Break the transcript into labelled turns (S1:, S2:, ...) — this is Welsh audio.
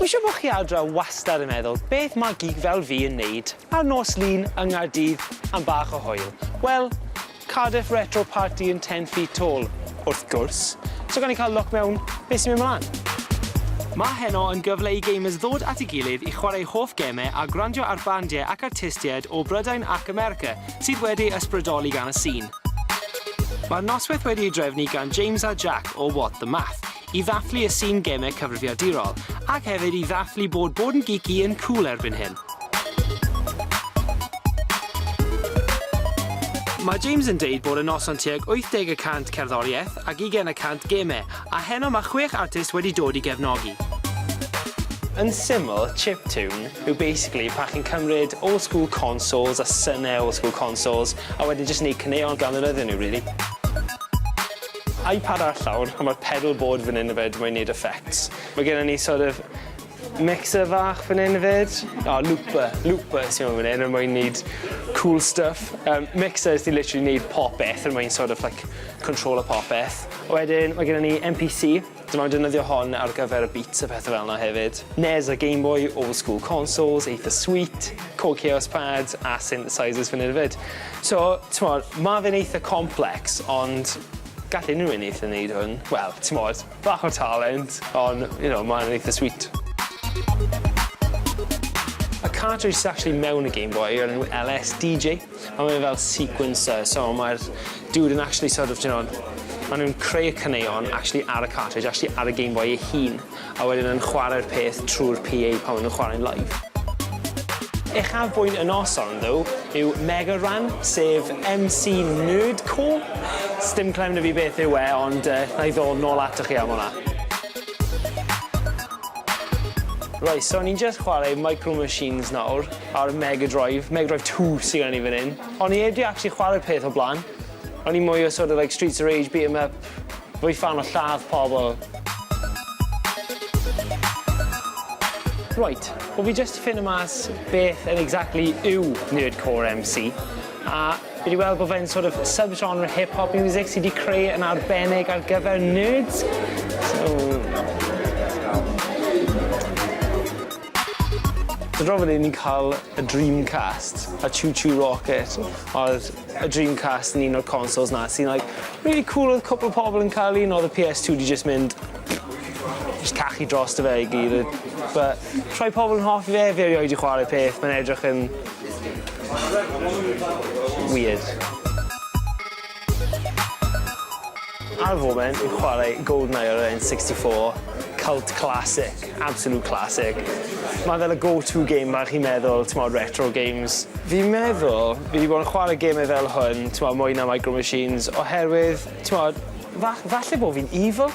S1: Wi'n siŵr bo' chi ar draw wastad yn meddwl beth ma' gig fel fi yn neud ar nos Lun yng Nghaerdydd am bach o hwyl. Wel, Cardiff Retro Party yn Ten Feet Tall, wrth gwrs, so gawn ni ca'l look mewn be' sy'n myn' mlan. Ma' heno yn gyfle i gamers ddod at ei gilydd i chwarae hoff geme a gwrando ar bandie ac artistied o Brydain ac America sydd wedi ysbrydoli gan y sîn. Mae'r noswaith wedi'i drefnu gan James a Jack o What the Math, i ddathlu y sîn gemau cyfrifiadurol, ac hefyd i ddathlu bod bod yn geeky yn cŵl erbyn hyn. Mae James yn deud bod y noson tuag 80 y cant cerddoriaeth ac 20 y cant gemau, a heno mae chwech artist wedi dod i gefnogi. Yn syml, chiptune. yw basically pan chi'n cymryd old school consoles a syne old school consoles a wedyn jyst neud caneuon gan ddefnyddio nhw rili. Ipad ar llawr a ma'r pedal board fan 'yn 'fyd mae'n neud effects. Mae gennon ni sort of mixer fach fan 'yn 'fyd. O looper, looper sy mewn fan 'yn er mwyn neud cŵl stwff. Yym mixer sy literally neud popeth er mwyn sort of like controlo popeth. Wedyn mae gennon ni MPC. Dw i'n defnyddio hon ar gyfer y beats a pethau fel 'na hefyd. Nes a Game Boy, old school consoles, eitha sweet, Korg Kaos pads a synthesizers fan hyn a fyd. So, t'mod, ma' fe'n eitha complex ond gall unrhyw un eitha neud hwn. Wel, t'mod, bach o talent ond, you know, ma' hwn yn eitha sweet. Y cartridge sy actually mewn y Game Boy yw'r enw LSDJ. Mae fe fel sequencer, so mae'r dude yn actually sort of, d'you know, maen nhw'n creu y caneuon actually ar y cartridge, actually ar y Game Boy ei hun, a wedyn yn chwarae'r peth trwy'r PA pan maen nhw'n chwarae'n live. Uchafbwynt y noson, ddo, yw Mega Ran, sef MC Nerdcore. Sdim clem 'da fi beth yw e, ond yy, na i ddod nôl atoch chi am hwnna. Reit, so ni'n jyst chwarae Micro Machines nawr. ar Mega Drive, Mega Drive Two sy gen i fan 'yn. O'n i 'eb 'di actually chware'r peth o bla'n. O'n i mwy o sort of like Streets of Rage, beat 'em up, rwy'n ffan o lladd pobl. Rwyt, wel fi jyst 'di ffindo mas beth yn exactly yw Nerdcore MC, a fi 'di weld bod fe'n sort of sub-genre hip hop music sy 'di creu yn arbennig ar gyfer nerds, so... Dro fydden ni'n cael y Dreamcast, y Choo Choo Rocket, oedd y Dreamcast yn un o'r consoles 'na sy'n like rili cŵl oedd cwpwl o pobol yn cael un odd y Pee Ess Two 'di jyst mynd jyst cachu drosto fe i gyd yy bu' rhai pobol yn hoffi fe fi erioed 'di chware'r peth mae'n edrych yn weird. Ar y foment fi'n chware Goldeneye ar yr en sixty four, cult classic, absolute classic. Mae fel y go to game bach i meddwl, t'mod retro games. Fi'n meddwl fi 'di bod yn chware geme fel hwn, t'mod mwy na Micro Machines oherwydd t'mod fa- falle bo fi'n evil?